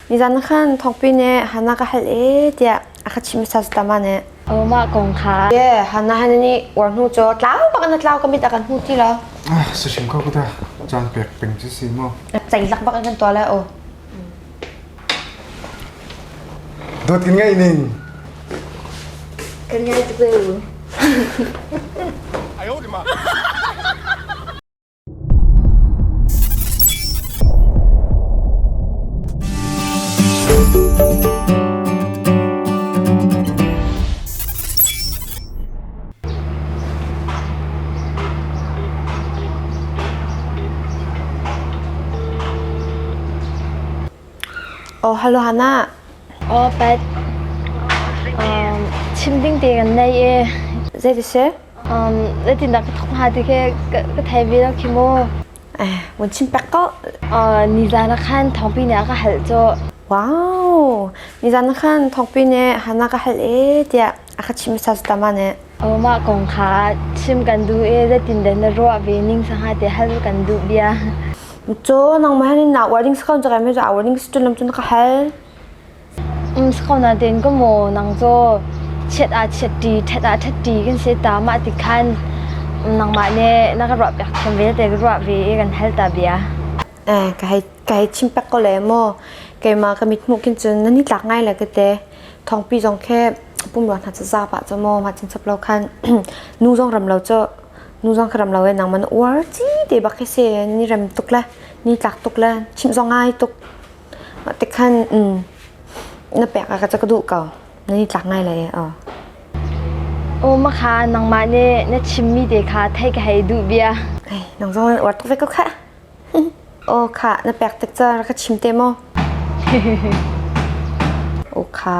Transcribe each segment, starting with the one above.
Nizan khan thawngpi nih Hannah ka hal e tiah a ka chim sa tama ne. Mah kong kha. Ye Hannah han nih war hnu cho tlau bakan tlau kamit akan hu ti lo. Ah si hrim ko kuta chan pek peng si si mo. Cai lak bakan kan to la o. Dot kan ngai ning. Kan ngai tu. Ayo di ma. Aw halo Hannah. Aw Pat. Um, chim ding te kan nei e. Zei dise? zeitindah ka thawk hnga ti khi ka thei ve lo khi maw vun chim pek ko nizan ah khan thawngpi ne ka hal cu wow nizan ah khan thawngpi ne hana ka hal e tiah a ka chim sa ta ma ne mah kong kha chim kan duh e zeitin den na ruah ve ning sanga te hal kan duh bia cho nang ma ni na wording skon jaga me ja wording stun lam chun ka hal Khona ten ka maw nang caw chiat ah chiat ṭi ṭhat ah ṭhat ṭi kan si ta mah ti khan nangmah nih na ka ruah piak thiam vialte ka ruah ve i kan hal ta bia. Ka hei ka hei chim pek ko le maw keimah ka mithmuh khin cun nan i tlak ngai le ka te thawngpi zong khi pumrua hna ca zap ah caw maw mah chin chap lo khan nu zong ram lo caw nu zong khi ram lo e nangman uar ci te bak khi si ni rem tuk le ni tlak tuk le chimh zong ngai tuk. Mah tikhan na pek ah ka ca ka duh ko. Nan i tlak ngai lai aw. Aw makha nangmah nih na chimmi te kha thei ka hei duh bia. Nang zong wat ve ko kha. Aw kha na pek tik ca rak ka chim te maw? Aw kha.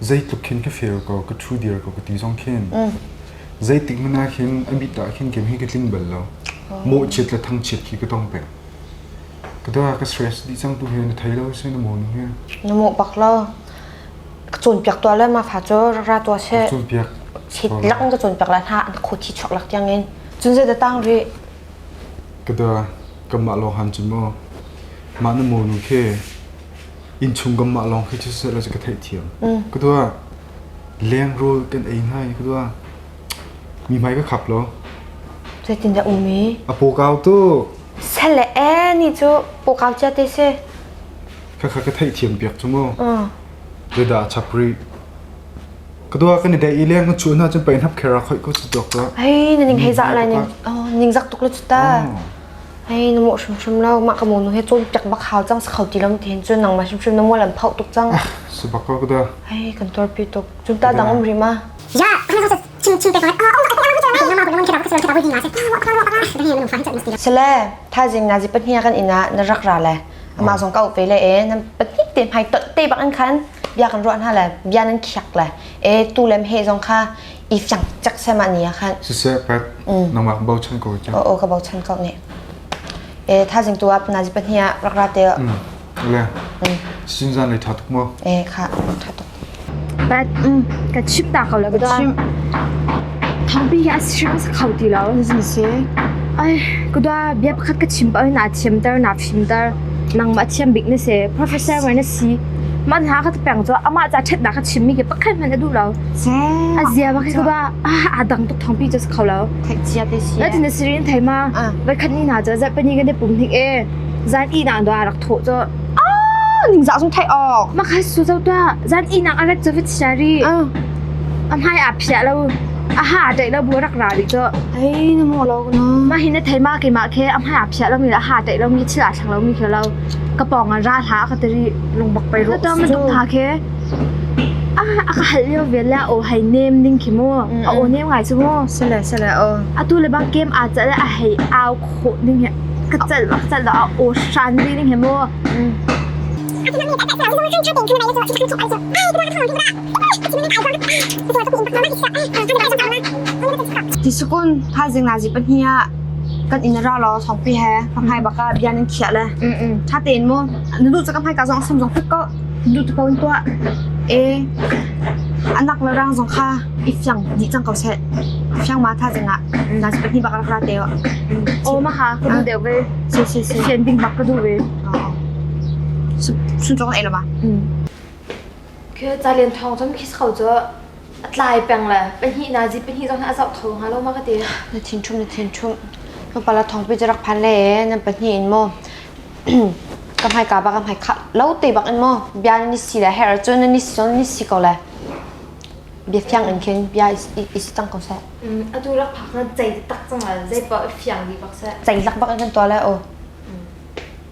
Zeitluk khin ka fir ko, ka ṭhu dir ko ka ti zong khin zeitik hmanh ah khin a bit ah khin kem hi ka tlin bal lo. Mawhchiat le thangchiat khi ka tong peng. Ka da ka stress dih cang tu he na thei lo seh na maw nu he. Na mawh bak lo. Ka cawnpiak tuah le ma fa cu ra tuah seh. Cawnpiak. Chit lang ka cawnpiak la hna na khut hi chuak lak tiang in. Cun zei da tang ri. Ka da kanmah lawng han cu maw. Mah na maw nu khi innchung kam mah lawng khi cu seh law cu ka theihthiam. Ka tuah leng rul kan ei hna i ka tuah mi hmai ka khap lo. Zeitin dah um i? A pokau tu Sele e ni cu pokau cia te si. kha kha ka theihthiam piak cu mu. Ve da a chap rih. Ka tuah kan i dei i leng ka chuah hna cun pei hnap khera khoi ko si tuak tuah. Ai na ning hei za lai ning. Oh ning zak tuk lu cu ta. Ai na mawh hrimhrim lo mah ka monu he cun tek bak hau cang kho ti lam te cun nangmah hrimhrim na mual an phauh tuk cang. Ah sebakak dah. Ai kan tor pi tuk. Cun ta dang um ri ma. Ya, hang hang chin chin te ko. Ah um Sele, thazim na zi pahnia kan ina na rak ra le. Ama zong ka upe le e na pahnik te mai tot te bak an khan. Bia kan ruan ha le bia nan khiak le. E tu lem he zong kha i cang cak sem ah ni khan siseh pat nangmah bochan ko cang o ka bochan ko ne e tha jing tu ap na ji pahni a rak ra te le sin zan le tha tuk mo e kha tha tuk but ka chip ta ka la ka chip thangpi ya si ka khau ti lo zin se ai kuda bia pakhat ka chim pa na chim tar na phim tar nang ma chim bik ne se professor wa na si Mah hna kha peng cu amah ca ṭhatnak kha chimmi khi pakhat hmanh a duh lo. A zia ma khi ka ba aa dang tuk thawngpi cu a si kho lo. Theihcia te si. Natin na siri in thei ma? Voikhat ni hna cu Japan i kan i pum hnik e zan ih nak dawh a rak thawh cu. Ningzah sung theih awk. Mah kha su zo tuah. Zan ih nak a rat cu vit sia ri. A hmai aa phiah lo. A ha aa ṭaih lo bu a rak ra rih cu. Ai na maw lo na. Mah hi na thei ma keimah khi a hmai aa phiah lomi le a ha ṭaih lomi le thil aa thleng lomi khi lo. ka pawng ah ra hlah a ka ti rih. Lungbak pei rawh usu. Ka tha khe. Ah a ka hal lio ve le a aw hei nem ding khi mu. A aw nem ngai cu mu. Sile sile aw. Atu le bang kem aa cal a hei au khawh ding he. Ka cal bak cal lo a aw shan rih ding he mu. Tisukun thaizing nazi pahnih ah kan in ra law thawngpi he hmanghai baka bian in khiah le tha tein mu nu caka hmai ka zong sam zong pik ko du tu ko in tuah e anak le rang zong kha i fiang di chang ko se fiang ma thaizing ah nazi pahnih baka ra te o ma ha ku du deu ve si si si hian bing bak ku du ve sun chong ei lo ma Khi calen thawng cun khi kho cu a tlai peng le pahnih na zi pahnih zong a zoh kho hnga lo ma ka ti. Na thin ṭhum na thin ṭhum. Nu pala thawngpi cu rak phan le nan pahnih in maw ka hmaika bak ka hmaika lo te bak in maw bia nan i si le herh cun nan i si cun nan i si ko le biafiang in khin bia i si cang ko seh. Atu rak phak na cei tak cang le zei pa fiang di bak seh. Cei lak bak in kan tuah le o.